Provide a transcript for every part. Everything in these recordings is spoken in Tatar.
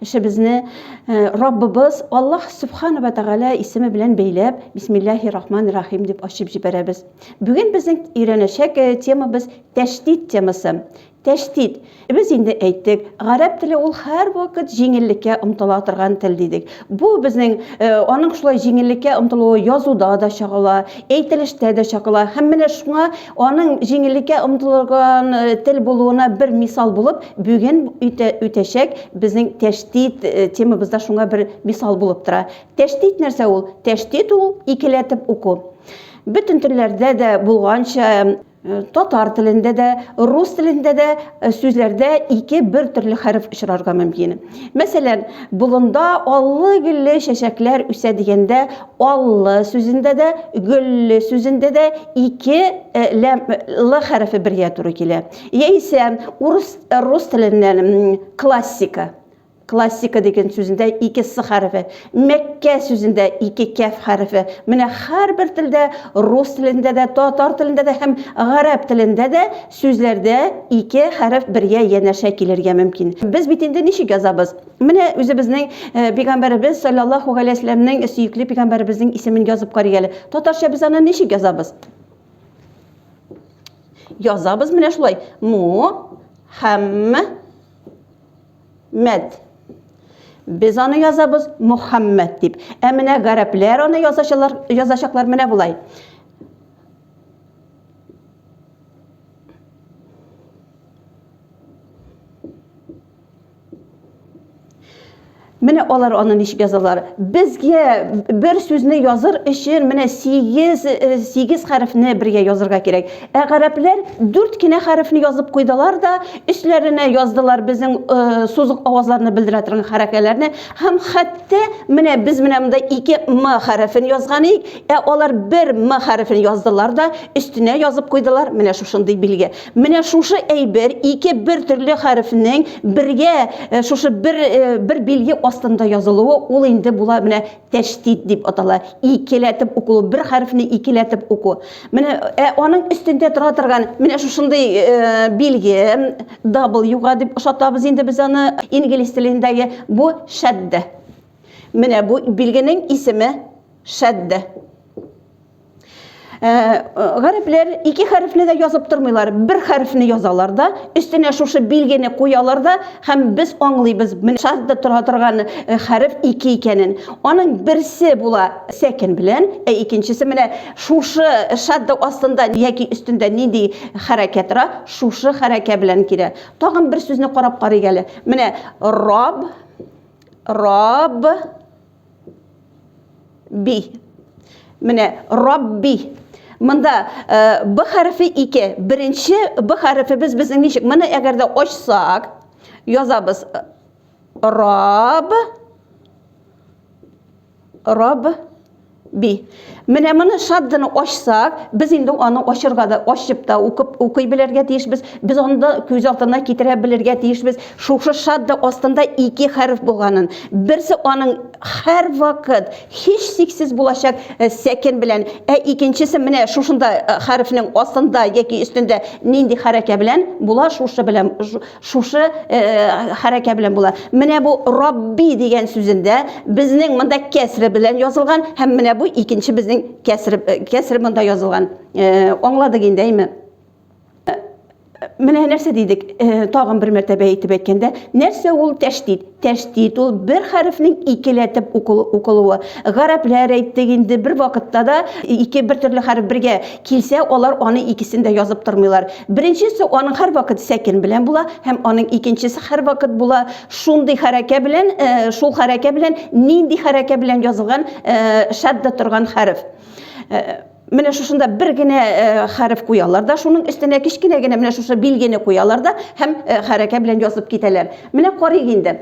Эшебезне Раббыбыз Аллаһ Субхана ва Тәгалә исеме белән бәйләп, Бисмиллахи Рахман Рахим дип ачып җибәрәбез. Бүген безнең өйрәнәчәк темабыз тәшдид темасы. Тәшдид. Без инде әйттек, гарәп теле ул һәрвакыт җиңеллеккә омтыла торган тел дидек. Бу безнең э, аның шулай җиңеллеккә омтылуы язуда да чагыла, әйтелештә дә чагыла. Һәм менә шуңа Аның җиңеллеккә омтылган э, тел булуына бер мисал булып, бүген үтә, үтәчәк безнең тәштит э, темабыз да шуңа бер мисал булып тора. Тәштит нәрсә ул? Тәштит ул икеләтеп уку. Бөтен телләрдә дә булганча, э, татар телендә дә, рус телендә дә сүзләрдә ике бер төрле хәреф очрарга мөмкин. Мәсәлән, болында аллы-гөлле чәчәкләр үсә дигәндә, Аллы сүзендә дә, гөлле сүзендә дә ике э, ләм э, лы хәрефе бергә туры килә. Яисә урыс э, рус теленнән классика классика дигән сүзендә ике с хәрефе, мәккә сүзендә ике кәф хәрефе. Менә һәрбер телдә, рус телендә дә, татар телендә дә һәм гарәп телендә дә сүзләрдә ике хәреф бергә янәшә килергә мөмкин. Без бит инде ничек язабыз? Менә үзебезнең пигамбәребез саллаллаху галәйһи вәсәлләмнең сөекле пигамбәребезнең исемен язып карыйк әле. Татарча без аны ничек язабыз? Язабыз менә шулай. Му хәм мәд. Без аны язабыз Мухаммад дип. Ә менә гарәпләр аны язачалар, язачаклар менә булай. Менә алар аны ничек язалар. Безгә бер сүзне языр өчен менә 8 8 хәрефне бергә язырга кирәк. Ә гарәпләр 4 кенә хәрефне язып куйдылар да, өсләренә яздылар безнең э, сузык авазларны белдерә торган хәрәкәләрне һәм хәтта менә без менә монда 2 м хәрефен язган идек, ә алар 1 м хәрефен яздылар да, өстенә язып куйдылар менә шушындый билге. Менә шушы әйбер ике бер төрле хәрефнең бергә шушы бер бер билге астында язылуы, ул инде була менә тәштит дип атала. Икеләтеп уку, бер хәрефне икеләтеп уку. Менә ә аның өстендә тора торган менә шушындый билге W-га дип ошатабыз инде без аны инглиз телендәге бу шәддә. Менә бу билгенең исеме шәддә. Гарәпләр ике хәрефне дә язып тормыйлар, бер хәрефне язалар да, өстенә шушы билгене куялар да, һәм без аңлыйбыз, менә шадда тора торган хәреф ике икәнен. Аның берсе була сәкен белән, ә икенчесе менә шушы шадда астында яки өстендә нинди хәрәкә тора, шушы хәрәкә белән килә. Тагын бер сүзне карап карыйк әле. Менә раб, раб, би менә рабби Монда э, б хәрефе ике. Беренче б хәрефебез безнең ничек? Моны әгәр дә ачсак, язабыз раб раб би. Менә моны шадданы ачсак, без инде аны ачырга да, ачып та укып, укый белергә тиешбез. Без аны да күз алдына китерә белергә тиешбез. Шушы шадда астында ике хәреф булганын. Берсе аның һәрвакыт һичшиксез булачак сәкен белән, ә икенчесе менә шушында хәрефнең астында яки өстендә нинди хәрәкә белән була, шушы белән, Шушы э, э, хәрәкә белән була. Менә бу Рабби дигән сүзендә безнең монда кәсре белән язылган һәм менә бу икенче безнең кәсре э, кәсре монда язылган. Э, аңладык инде, әйме? Э, менә нәрсә дидек, э, тагын бер мәртәбә әйтеп әйткәндә, нәрсә ул тәшдид? Тәшдид ул бер хәрефнең икеләтеп укылуы. Гарәпләр әйттек инде, бер вакытта да ике бер төрле хәреф бергә килсә, алар аны икесен дә язып тормыйлар. Беренчесе аның һәрвакыт сәкен белән була һәм аның икенчесе һәрвакыт була шундый хәрәкә белән, шул хәрәкә белән, нинди хәрәкә белән язылган шадда торган хәреф. Менә шушында бер генә э, хәреф куялар да, шуның өстенә кечкенә генә менә шушы билгене куялар да һәм э, хәрәкә белән язып китәләр. Менә карыйк инде.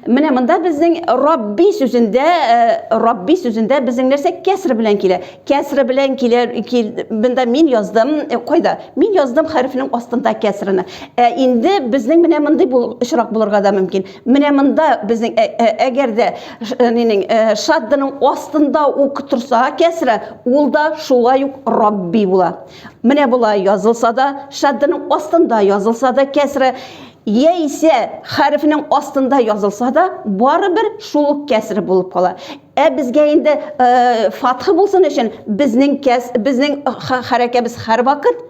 Менә монда безнең Рабби сүзендә, э, Рабби сүзендә безнең нәрсә кәср белән килә. Кәср белән килә, кил, монда мин яздым, э, кайда? Мин яздым хәрефнең астында кәсрне. Ә инде безнең менә мондый бу очрак булырга да мөмкин. Менә монда безнең ә- ә- әгәр дә ш- э, нинең, э, шаддының астында ук торса кәсрә, ул да шулай ук рабби була. Менә болай язылса да, шаддының астында язылса да кәсрә, яисә хәрефнең астында язылса да, барыбер шул ук кәсре булып кала. Ә безгә инде э, фатхы булсын өчен безнең кәс, безнең ха- хәрәкәбез һәрвакыт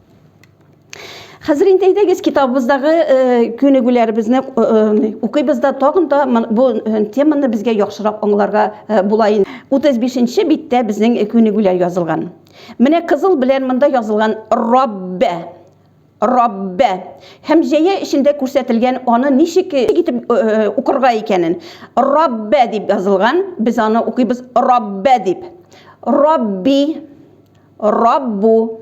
Хәзер инде әйдәгез китабыбыздагы күнегүләребезне укыйбыз да тагын да бу теманы безгә яхшырак аңларга була инде. 35-нче биттә безнең күнегүләр язылган. Менә кызыл белән монда язылган Раббә. Раббә. Һәм җәя эчендә күрсәтелгән аны ничек итеп укырга икәнен. Раббә дип язылган, без аны укыйбыз Раббә дип. Рабби, Раббу.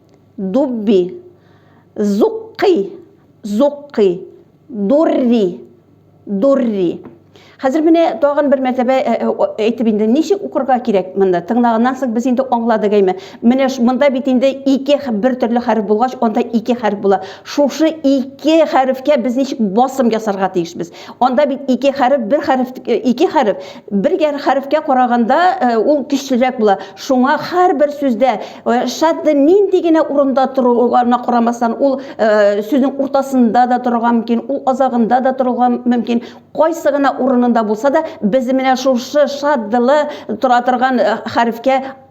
дубби, зукки, зукки, дурри, дурри. Хәзер менә тагын бер мәртәбә э, э, э, әйтеп инде, ничек укырга кирәк монда? Тыңлаганнан соң без инде аңладык әйме? Менә монда бит инде ике бер төрле хәреф булгач, анда ике хәреф була. Шушы ике хәрефкә без ничек басым ясарга тиешбез? Анда бит ике хәреф, бер хәреф, э, ике хәреф, бер хәрефкә караганда э, ул көчлерәк була. Шуңа һәрбер сүздә э, шадды нинди генә урында торуына карамастан, ул сүзнең уртасында да торырга мөмкин, ул азагында да торырга мөмкин. Кайсы гына урынында булса да, без менә шушы шаддылы тора торган хәрефкә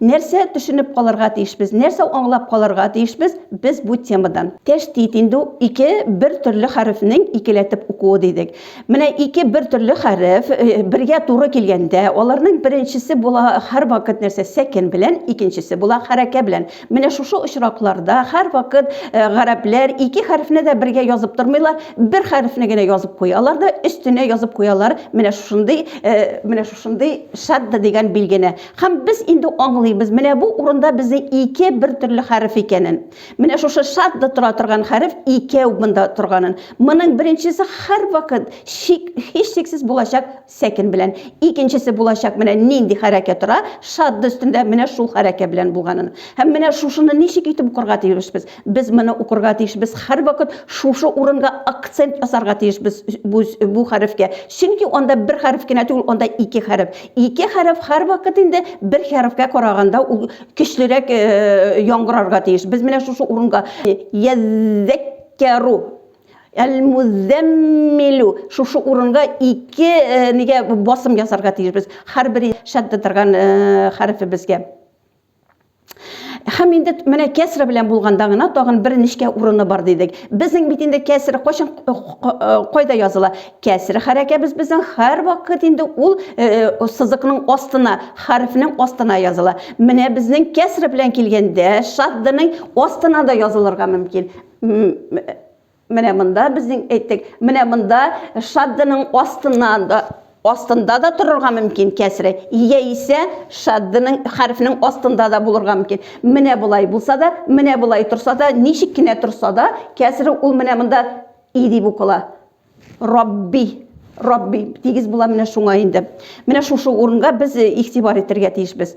Нәрсә төшенеп калырга тиешбез, нәрсә аңлап калырга тиешбез без бу темадан? Тәштит инде ул ике бер төрле хәрефнең икеләтеп укуы дидек. Менә ике бер төрле хәреф бергә туры килгәндә, аларның беренчесе була һәрвакыт нәрсә, сәкен белән, икенчесе була хәрәкә белән. Менә шушы очракларда һәрвакыт гарәпләр ике хәрефне дә бергә язып тормыйлар, бер хәрефне генә язып куялар да өстенә язып куялар менә шушындый, менә шушындый шадда дигән билгене. Һәм без инде аңлыйбыз, менә бу урында безнең ике бер төрле хәреф икәнен. Менә шушы шадда тора торган хәреф икәү монда торганын. Моның беренчесе һәрвакыт шик, һичшиксез булачак сәкен белән. Икенчесе булачак менә нинди хәрәкә тора, шадда өстендә менә шул хәрәкә белән булганын. Һәм менә шушыны ничек итеп укырга тиешбез? Без моны укырга тиешбез. Һәрвакыт шушы урынга акцент ясарга тиешбез бу, бу хәрефкә. Чөнки анда бер хәреф кенә түгел, анда ике хәреф. Ике хәреф һәрвакыт инде бер хәрефкә караганда ул көчлерәк э, яңгырарга тиеш. Без менә шушы урынга яззәккәру Әл-музәммилу шушы урынга ике э, нигә басым ясарга тиешбез. Һәрбер шәддә торган э, хәрефебезгә. Һәм инде менә кәсре белән булганда гына тагын бер нечкә урыны бар дидек. Безнең бит инде кәсре кайчан э, э, кайда языла? Кәсре хәрәкәбез безнең һәр вакыт инде ул э, сызыкның астына, хәрефнең астына языла. Менә безнең кәсре белән килгәндә шаддының астына да язылырга мөмкин. Менә монда безнең әйттек, менә монда шаддының астыннан да астында да торырга мөмкин кәсре, яисә шаддының хәрефнең астында да булырга мөмкин. Менә болай булса да, менә болай торса да, ничек кенә торса да, кәсре ул менә монда и дип укыла. Рабби Рабби тигез була менә шуңа инде. Менә шушы урынга без игътибар итәргә тиешбез.